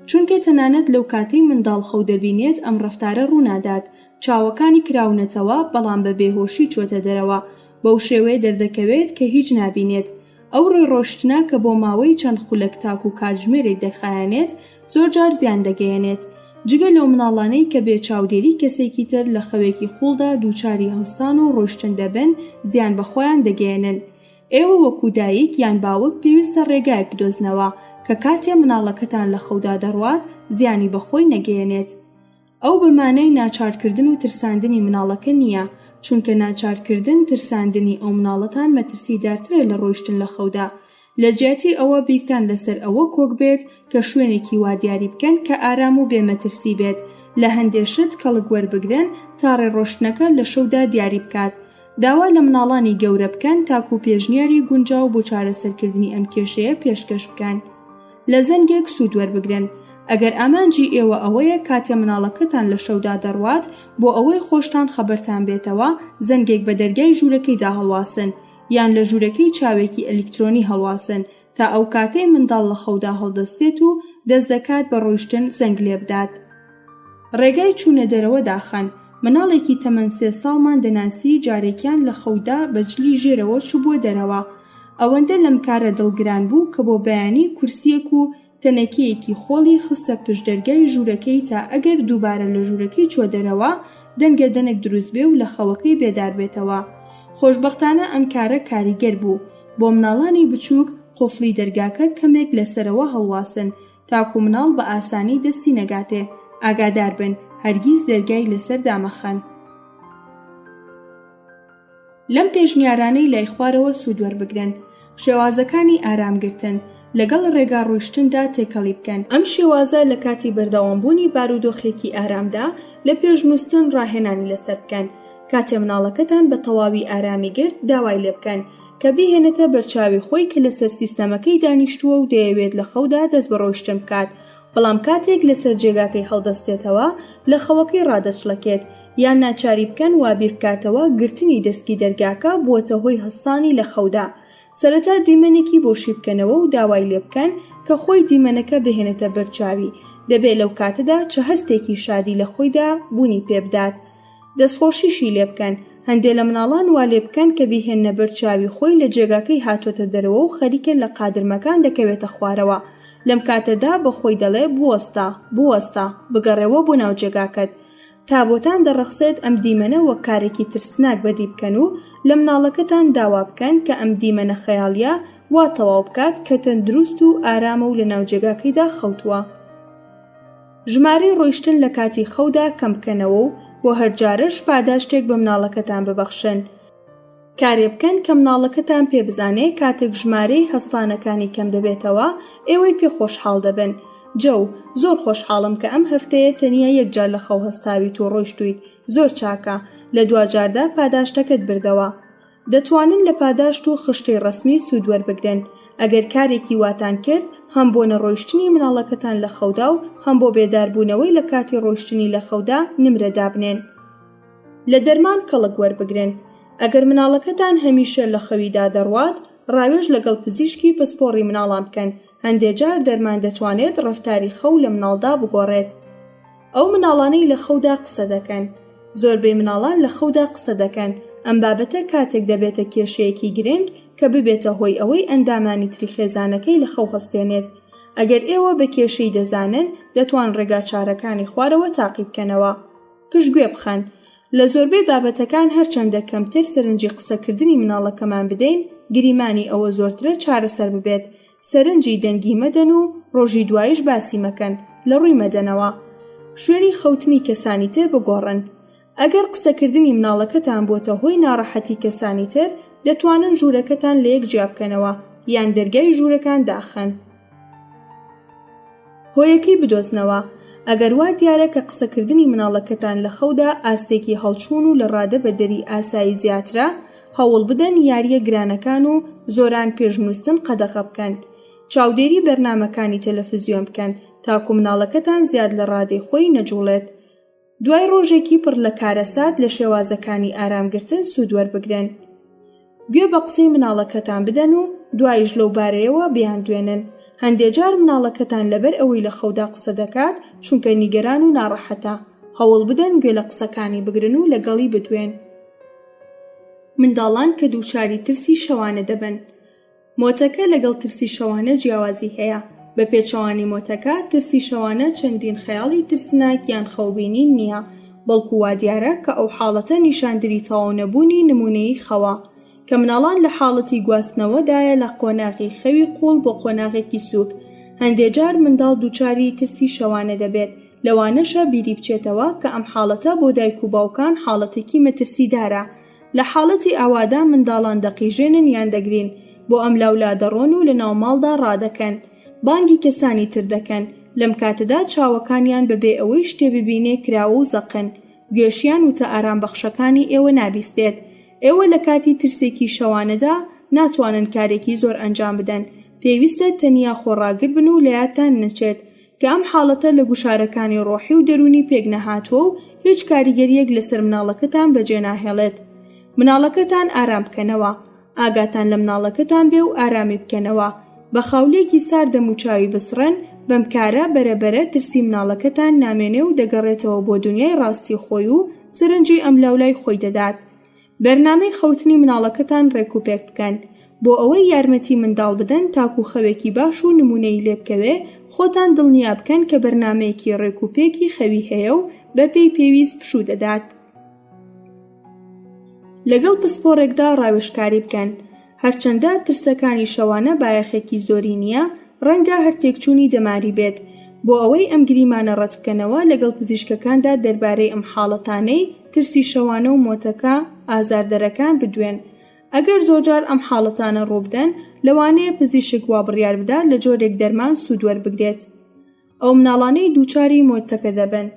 چونکە تەنانەت لەو کاتەی منداڵ خەو دەبینێت ئەم ڕەفتارە ڕوونادات، چاوەکانی کراونەتەوە بەڵام بە بێهۆشی چۆتە دەرەوە، بەو شێوەیە دەردەکەوێت کە هیچ نابینێت، ئەو ڕێڕۆشتنە کە بۆ ماوەی چەند خولەک تاکوو کاتژمێرێک دەخایەنێت، زۆرجار زیان دەگەیەنێت، جگە لەو مناڵانەی کە بێ چاودێری کەسێکی تر لە خەوێکی قووڵدا دووچاری هەستان و ڕۆشتن دەبن، زیان بە خۆیان دەگەیەنن. ئێوە وەکوو دایک یان باوک پێویستە ڕێگایەک بدۆزنەوە کە کاتێ مناڵەکەتان لە خەودا دەڕوات زیانی بە خۆی نەگەیەنێت. ئەو بە مانای ناچارکردن و ترساندنی مناڵەکە نییە، چونکە ناچارکردن، ترساندنی ئەو مناڵەتان مەترسیدارترە لە ڕۆیشتن لە خەودا. لە جیاتی ئەوە بیرتان لەسەر ئەوە کۆک بێت کە شوێنێکی وا دیاری بکەن کە ئارام و بێ مەترسی بێت، لە هەندێ شت کەڵک وەربگرن تا ڕێ ڕۆشتنەکە لە شەودا دیاری بکات. داوا لە مناڵانی گەورە بکەن تاکوو پێشنیاری گونجاو بۆ چارەسەرکردنی ئەم کێشەیە پێشکەش بکەن. لە زەنگێک سوود وەربگرن. ئەگەر ئامانجی ئێوە ئەوەیە کاتێ مناڵەکەتان لە شەودا دەڕوات بۆ ئەوەی خۆشتان خەبەرتان بێتەوە زەنگێک بە دەرگای ژوورەکەیدا هەڵواسن یان لە ژوورەکەی چاوێکی ئەلیکترۆنی هەڵواسن تا ئەو کاتەی منداڵ لە خەودا هەڵدەستێت و دەست دەکات بە ڕۆیشتن زەنگ لێبدات. ڕێگای چوونە دەرەوە داخان. مناڵێکی تەمەن سێ ساڵمان دەناسی جارێکیان لە خەودا بە جلی ژێرەوە چوبووە دەرەوە. ئەوەندە لەم کارە دڵگران بوو کە بۆ بەیانی کورسیەک و تەنەکەیەکی خۆڵی خستە پشت دەرگای ژوورەکەی تا ئەگەر دووبارە لە ژوورەکەی چووە دەرەوە دەنگە دەنک دروست بێ و لە خەوەکەی بێدار بێتەوە. خۆشبەختانە ئەم کارە کاریگەر بوو. بۆ مناڵانی بچووک قوفڵی دەرگاکە کەمێک لە سەرەوە هەڵواسن تاکو مناڵ بە ئاسانی دەستی نەگاتێ ئاگادار بن هەرگیز دەرگای لەسەر دامەخەن لەم پێشنیارانەی لای خوارەوە سوود وەربگرن شێوازەکانی ئارامگرتن لەگەڵ ڕێگا ڕۆیشتندا تێکەڵی بکەن ئەم شێوازە لە کاتی بەردەوامبوونی بارودۆخێکی ئارامدا لە پێشنووسن ڕاهێنانی لەسەر بکەن کاتێ مناڵەکەتان بە تەواوی ئارامی گرت داوای لێ بکەن کە بیهێنێتە بەرچاوی خۆی کە لەسەر سیستەمەکەی دانیشتووە و دەیەوێت لە خەودا دەست بە ڕۆیشتن بکات بەڵام کاتێک لەسەر جێگاکەی هەڵدەستێتەوە لە خەوەکەی ڕادەچڵەکێت یان ناچاری بکەن وا بیربکاتەوە گرتنی دەسکی دەرگاکە بووەتە هۆی هەستانی لە خەودا سەرەتا دیمەنێکی بۆشی بکەنەوە و داوای لێ بکەن کە خۆی دیمەنەکە بهێنێتە بەرچاوی دەبێت لەو کاتەدا چە هەستێکی شادی لە خۆیدا بوونی پێبدات دەستخۆشیشی لێبکەن هەندێ لە مناڵان وا لێبکەن کە بیهێنە بەر چاوی خۆی لە جێگاکەی هاتۆتە دەرەوە و خەریکە لە قادرمەکان دەکەوێتە خوارەوە لەم کاتەدا بە خۆی دەڵێ بوەستە بوەستە بگەڕێەوە بۆ ناو جێگاکەت تا بۆتان دەڕەخسێت ئەم دیمەنە وەک کارێکی ترسناک بەدی بکەن و لە مناڵەکەتان داوا بکەن کە ئەم دیمەنە خەیاڵیە وا تەواو بکات کە تەندروست و ئارامە و لە ناو جێگاکەیدا خەوتووە. ژمارەی ڕۆیشتن لە کاتی خەودا کەم بکەنەوە و بۆ هەر جارەش پاداشتێک بە مناڵەکەتان ببەخشن. کارێ بکەن کە مناڵەکەتان پێ بزانێ کاتێک ژمارەی هەستانەکانی کەم دەبێتەوە ئێوەی پێ خۆشحاڵ دەبن. جەو، زۆر خۆشحاڵم کە ئەم هەفتەیە تەنیا یەک جار لە خەو هەستاویت و ڕۆیشتوویت، زۆر چاکە، لە دواجاردا پاداشتەکەت بردەوە. دەتوانن لە پاداشت و خشتەی ڕەسمی سوود وەربگرن ئەگەر کارێکی واتان کرد هەم بۆ نەڕۆیشتنی مناڵەکەتان لە خەودا و هەم بۆ بێداربوونەوەی لە کاتی ڕۆیشتنی لە خەودا نمرە دابنێن لە دەرمان کەڵک وەربگرن ئەگەر مناڵەکەتان هەمیشە لە خەویدا دەڕوات ڕاوێژ لەگەڵ پزیشکی پسپۆڕی مناڵان بکەن هەندێک جار دەرمان دەتوانێت ڕەفتاری خەو لە مناڵدا بگۆڕێت ئەو مناڵانەی لە خەودا قسە دەکەن زۆربەی مناڵان لە خەودا قسە دەکەن ئەم بابەتە کاتێک دەبێتە کێشەیەکی گرنگ کە ببێتە هۆی ئەوەی ئەندامانی تری خێزانەکەی لە خەو هەستێنێت ئەگەر ئێوە بە کێشەی دەزانن دەتوان ڕێگا چارەکانی خوارەوە تاقی بکەنەوە پشتگوێ بخەن لە زۆربەی بابەتەکان هەرچەندە کەمتر سەرنجی قسەکردنی مناڵەکەمان بدەین گریمانی ئەوە زۆرترە چارەسەر ببێت سەرنجی دەنگی مەدەن و ڕۆژی دوایش باسی مەکەن لە ڕووی مەدەنەوە شوێنی خەوتنی کەسانی تر بگۆڕن ئەگەر قسەکردنی مناڵەکەتان بۆتە هۆی ناڕەحەتی کەسانی تر دەتوانن ژوورەکەتان لەیەک جیابکەنەوە یان دەرگای ژوورەکان داخەن. هۆیەکەی بدۆزنەوە ئەگەر وا دیارە کە قسەکردنی مناڵەکەتان لە خەودا ئاستێکی هەڵچوون و لە ڕادە بە دەری ئاسایی زیاترە هەوڵ بدەن یاریە گرانەکان و زۆران پێش نووستن قەدەغە بکەن چاودێری بەرنمەکانی تەلەفزیۆن بکەن تاکو مناڵەکەتان زیاد لە ڕادەی خۆی نەجوڵێت دوای ڕۆژێکی پڕ لە کارەسات لە شێوازەکانی ئارامگرتن سوود وەربگرن گوێ بە قسەی مناڵەکەتان بدەن و دوایش لەو بارەیەوە بیان دوێنن هەندێ جار مناڵەکەتان لەبەر ئەوەی لە خەودا قسە دەکات چونکە نیگەران و ناڕەحەتە هەوڵ بدەن گوێ لە قسەکانی بگرن و لەگەڵی بدوێن منداڵان کە دووچاری ترسی شەوانە دەبن مۆتەکە لەگەڵ ترسی شەوانە جیاوازی هەیە بە پێچەوانی مۆتەکە ترسی شەوانە چەندین خەیاڵی ترسناک یان خەوبینین نییە بەڵکو وا دیارە کە ئەو حاڵەتە نیشاندری تەواو نەبوونی نمونەیی خەوە کە مناڵان لە حاڵەتی گواستنەوەدایە لە قۆناغی خەوی قوڵ بۆ قۆناغێکی سووک هەندێ جار منداڵ دووچاری ترسی شەوانە دەبێت لەوانەشە بیری بچێتەوە کە ئەم حاڵەتە بۆ دایک و باوکان حاڵەتێکی مەترسیدارە لە حاڵەتی ئاوادا منداڵان دەقیژێنن یان دەگرین بۆ ئەملاولا دەڕۆن و لە ناو ماڵدا ڕادەکەن بانگی کەسانی تر دەکەن لەم کاتەدا چاوەکانیان بەبێ ئەوەی شتێ ببینێ کراوە و زەقن گوێشیان وتە ئارام بەخشەکانی ئێوە نابیستێت ئێوە لە کاتی ترسێکی شەوانەدا ناتوانن کارێکی زۆر ئەنجام بدەن پێویستە تەنیا خۆڕاگر بن و لە یادتان نەچێت کە ئەم حاڵەتە لە گوشارەکانی ڕۆحی و دەروونی پێک نەهاتووە و هیچ کاریگەرییەک لەسەر مناڵەکەتان بەجێ ناهێڵێت مناڵەکەتان ئارام بکەنەوە ئاگاتان لە مناڵەکەتان بێ و ئارامی بکەنەوە بە خاولێکی سارد دەموچاوی بسڕێن بەم کارە بەرە بەرە ترسی مناڵەکەتان نامێنێ و دەگەڕێتەوە بۆ دنیای ڕاستی خۆی و سەرنجی ئەملاولای خۆی دەدات بەرنامەی خەوتنی مناڵەکەتان ڕێک و پێک بکەن بۆ ئەوەی یارمەتی منداڵ بدەن تاکو خەوێکی باش و نمونەی لێبکەوێ خۆتان دڵنیا بکەن کە بەرنمەیەکی ڕێک و پێکی خەوی هەیە و بە پێی پێویست پشوو دەدات لەگەڵ پسپۆڕێکدا ڕاوێژکاری بکەن هەرچەندە ترسەکانی شەوانە بایەخێکی زۆری نییە، ڕەنگە هەر تێکچوونی دەماری بێت. بۆ ئەوەی ئەم گریمانە ڕەتبکەنەوە، لەگەڵ پزیشکەکاندا دەربارەی ئەم حاڵەتانەی ترسی شەوانە و مۆتەکە ئازاردەرەکان بدوێن. ئەگەر زۆرجار ئەم حاڵەتانە ڕووبدەن، لەوانەیە پزیشک وابڕیاربدات لە جۆرێک دەرمان سوود وەربگرێت. ئەو مناڵانەی دووچاری مۆتەکە دەبن.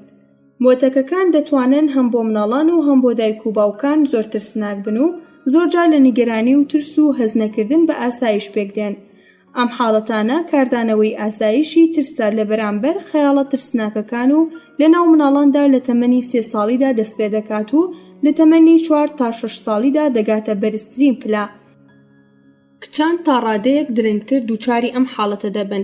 مۆتەکەکان دەتوانن هەم بۆ مناڵان و هەم بۆ دایک و باوکان زۆر ترسناک بن و زۆرجار لە نیگەرانی و ترس و هەستنەکردن بە ئاسایش پێکدێن. ئەم حاڵەتانە کاردانەوەی ئاسایشی ترسە لە بەرامبەر خەیاڵە ترسناکەکان و لەناو مناڵاندا لە تەمەنی سێ ساڵیدا دەستپێدەکات و لە تەمەنی چوار تا شەش ساڵیدا دەگاتە بەرزترین پلە. کچان تا ڕادەیەک درەنگتر دووچاری ئەم حاڵەتە دەبن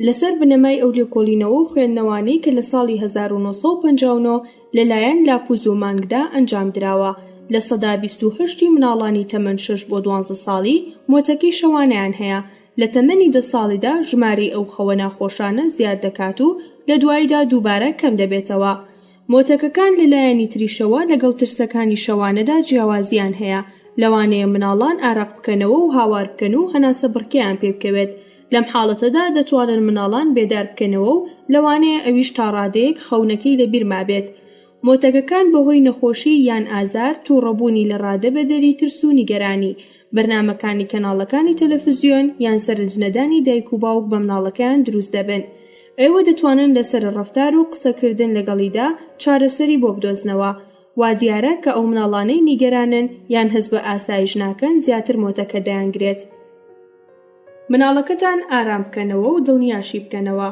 لەسەر بنەمای ئەو لێکۆلینەوە و خوێندنەوانەی کە لە ساڵی 1959 لەلایەن لاپوز و مانگدا ئەنجام دراوە لە سەدا 28 مناڵانی تەمەن 6 بۆ 12 ساڵی مۆتەکەی شەوانیان هەیە لە تەمەنی دە ساڵیدا ژمارەی ئەو خەوە ناخۆشانە زیاد دەکات و لە دواییدا دووبارە کەم دەبێتەوە مۆتەکەکان لە لایەنی تریشەوە لەگەڵ ترسەکانی شەوانەدا جیاوازییان هەیە، لەوانەیە منداڵان ئارەق بکەنەوە و هاوار بکەن و هەناسەبڕکێیان پێ بکەوێت، لەم حاڵەتەدا دەتوانن منداڵان بێدار بکەنەوە و لەوانەیە ئەویش تا ڕادەیەک خەونەکەی لەبیر مابێت. مۆتەکەکان بەهۆی نەخۆشی یان ئازار، تووڕەبوونی لە ڕادە بەدەری ترس و نیگەرانی، بەرنامەکانی کەناڵەکانی تەلەفزیۆن یان سەرنجنەدانی دایک و باوک بە مناڵەکەیان دروست دەبن ئێوە دەتوانن لەسەر ڕفتار و قسەکردن لەگەڵیدا چارەسەری بۆ بدۆزنەوە وا دیارە کە ئەو مناڵانەی نیگەرانن یان هەست بە ئاسایش ناکەن زیاتر مۆتەکە دەیانگرێت مناڵەکەتان ئارام بکەنەوە و دڵنیاشی بکەنەوە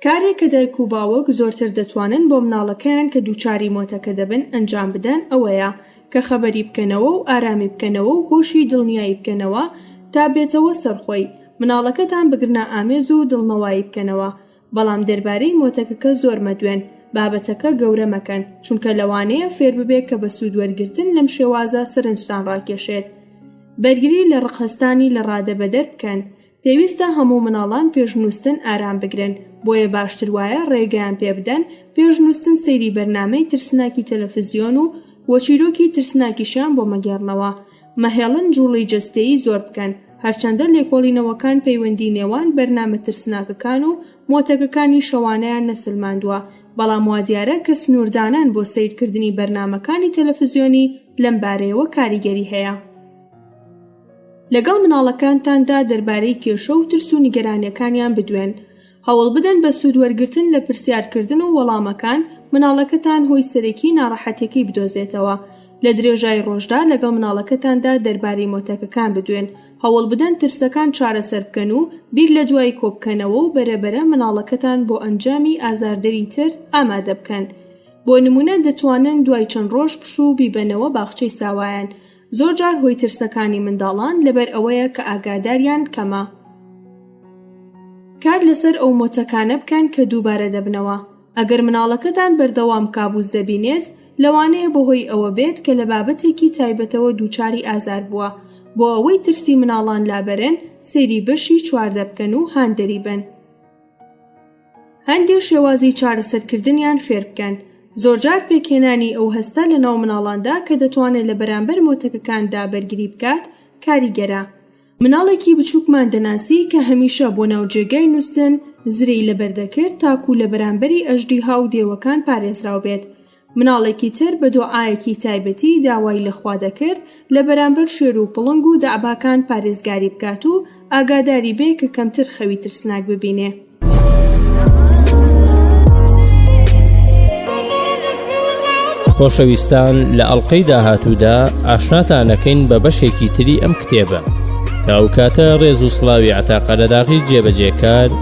کارێک کە دایک و باوک زۆرتر دەتوانن بۆ مناڵەکەیان کە دووچاری مۆتەکە دەبن ئەنجام بدەن ئەوەیە کە خەبەری بکەنەوە و ئارامی بکەنەوە و هۆشی دڵنیایی بکەنەوە تا بێتەوە سەر خۆی مناڵەکەتان بگرنە ئامێز و دڵنەوایی بکەنەوە بەڵام دەربارەی مۆتەکەکە زۆر مەدوێن بابەتەکە گەورە مەکەن چونکە لەوانەیە فێر ببێت کە بە سوود وەرگرتن لەم شێوازە سەرنجتان ڕاکێشێت بەرگری لە ڕق هەستانی لە ڕادەبەدەر بکەن پێویستە هەموو مناڵان پێش نووستن ئارام بگرن بۆیە باشتر وایە ڕێگەیان پێ بدەن پێش نووستن سەیری بەرنمەی ترسناکی تەلەفزیۆن و وە چیرۆکی ترسناکیشیان بۆ مەگێڕنەوە مەهێڵن جوڵی جەستەیی زۆر بکەن هەرچەندە لێکۆڵینەوەکان پەیوەندی نێوان بەرنامە ترسناکەکان و مۆتەکەکانی شەوانەیان نەسەلماندووە بەڵام وادیارە کە سنووردانان بۆ سەیرکردنی بەرنامەکانی تەلەفزیۆنی لەم بارەیەوە کاریگەری هەیە. لەگەڵ مناڵەکانتاندا دەربارەی کێشە و ترس و نیگەرانیەکانیان بدوێن هەوڵ بدەن بە سوود وەرگرتن لە پرسیارکردن و وەڵامەکان مناڵەکەتان هۆی سەرەکی ناڕەحەتیەکەی بدۆزێتەوە لە درێژای ڕۆژدا لەگەڵ مناڵەکەتاندا دەربارەی مۆتەکەکان بدوێن هەوڵ بدەن ترسەکان چارەسەر بکەن و بیر لە دوایی کۆبکەنەوە و بەرەبەرە مناڵەکەتان بۆ ئەنجامی ئازاردەری تر ئامادە بکەن بۆ نمونە دەتوانن دوای چەند ڕۆژ پشوو بیبەنەوە باخچەی ساوایان زۆر جار هۆی ترسەکانی منداڵان لەبەر ئەوەیە کە ئاگاداریان کەمە کار لەسەر ئەو مۆتەکانە بکەن کە دووبارە دەبنەوە ئەگەر مناڵەکەتان بەردەوام کابوس دەبینێت لەوانەیە بەهۆی ئەوە بێت کە لە بابەتێکی تایبەتەوە دووچاری ئازار بووە بۆ ئەوەی ترسی مناڵان لابەرن سەیری بەشی چواردە بکەن و هاندەری بن هەندێ شێوازی چارەسەرکردنیان فێر بکەن. زۆرجار پێکهێنانی ئەو هەستە لەناو منداڵاندا کە دەتوانێت لە بەرامبەر مۆتەکەکاندا بەرگری بکات کاریگەرە. منداڵێکی بچووکمان دەناسی کە هەمیشە بۆ ناو جێگای نووستن زرێی لەبەر دەکرد تاکوو لە بەرامبەری ئەژدیها و دێوەکان پارێزراو بێت. مناڵێکی تر بە دۆعایەکی تایبەتی داوای لە خوا دەکرد لە بەرامبەر شێر و پڵنگ و دەعباکان پارێزگاری بکات و ئاگاداری بێ کە کەمتر خەوی ترسناک ببینێ. خۆشەویستان لە ئەڵلقەی داهاتوودا ئاشناتانەکەین بە بەشێکی تری ئەم کتێبە تاوکاتە ڕێز و سلاوی عتاقەرەداغی جێبەجێکار